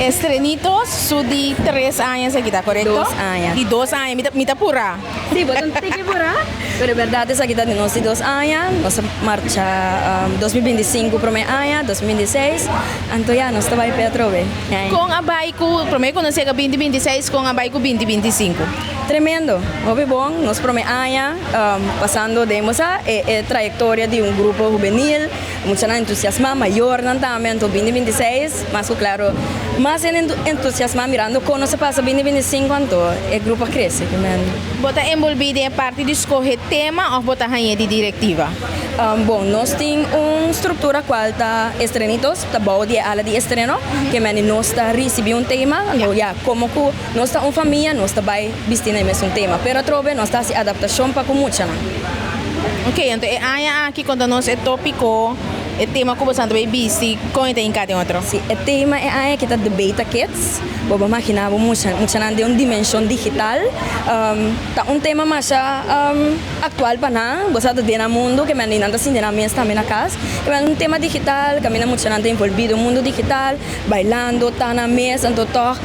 Estrenitos su di tres aña esaki ta korekto? Dos aña. Di dos aña, mi ta mi ta pura. Sí, bo ta tiki pura. Pero e berdad esaki ta di nos di dos aña, nos ta marcha dos mil binti sinku prome aña, dos mil binti seis, anto ya nos ta bai p'e atrobe. Kon a bai ku prome konosi aka binti binti seis kon a bai ku binti binti sinku? Tremendo, hopi bon, nos prome aña pasando den bosa e e trayectoria di un grupo hubenil, muchanan entusiasma, mayornan tambe anto bindi binti seis, mas ku klaro mas hende entusiasma mirando kon nos a pasa bindi binti sinku anto e grupo a krese, tremendo. Bo ta enbolbí den e parti di skohe tema òf bo ta hañ'é di direktiva? Bon, nos tin un struktura kual ta estrenitos, ta bou di e ala di estreno, ke mende nos ta risibí un tema, anto ya, komo ku. Nos ta un famia, nos ta bai bisti na e mesun tema, pero atrobe nos ta hasi adaptashon pa ku muchanan. Ok, anto e aña aki konta nos e tópiko, e tema ku boso a bai bisti, kon e ta hinká den otro? Sí, e tema e aña aki ta Debate a Kids. Bo por maginá bo mucha, muchanan den un dimenshon digital. Ta un tema masha aktual pa nan, bo sa ta den nan mundu, ke manera nan ta sinti nan mes tambe na kas. Bo ta un tema digital kaminda muchanan ta involví den mundu digital. Bailando, ta na mes, anto tòg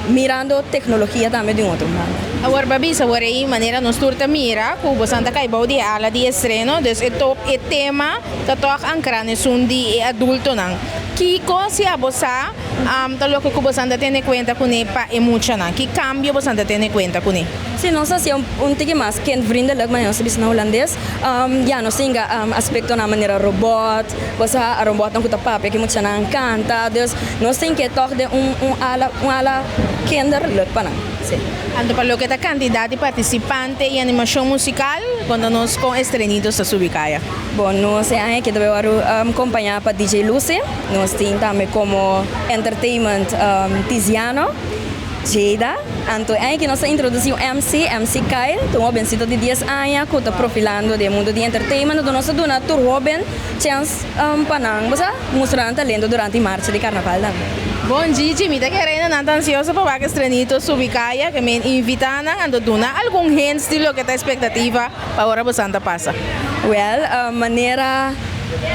mirando teknologia tambe di un otro manera. Awor pa bisa awor ei manera nos tur ta mira ku bosan ta kai bou di e ala di estreno, dus e to e tema ta tòg ankra na esun di e adultonan. Kiko si abo sa ta loke ku bosan ta tene kuenta kuné pa e muchanan? Ki kambio bosan ta tene kuenta kuné? Si nos ta hasié un tiki mas kindvriendelijk, manera nos ta bisa na hulandes, ya nos ta yinga aspektonan manera robòt, Bo sa a robotnan ku ta papia ke muchanan a nkanta, dus nos tin ke tòg den un un ala un ala kinder lòt pa nan. Sí. Anto pa loke ta kantidat di partisipante i animashon musikal, konta nos kon Estrenitos ta subi kaya? Bon, nos e aña ke ta bai wòrdu kompañá pa DJ Lucy. Nos tin tambe komo entertainment Tiziano. Jada, Anto e aña ki nos a introduci un MC, MC Kyle, ta un hobencito di dies aña cu ta profilando den mundo di entertainment, enton nos ta duna tur hoben chens pa nan bo sa, mustra nan talento durante e marcha di Carnaval tambe. Bon Gigi, mi ta kere inda nan ta ansioso pa wak e strenito Subi Kaya, ke mi invita nan, anto duna algun hints di loke ta expectativa pa ora bosan ta pasa. Well, manera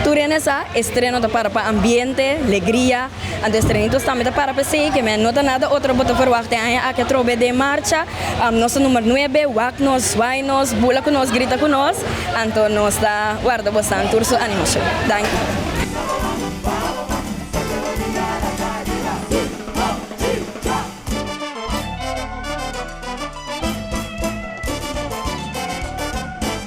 tur hende sa, e streno ta para pa ambiente, legria, Anto estre ni tos tambe ta para pa esei keme, no ta nada otro bo ta verwagt e aña aki atrobe den marcha, nos ta numer nuebe, wak nos, zwai nos, bula ku nos, grita ku nos, anto nos ta warda bo san tur su animo su. Danki.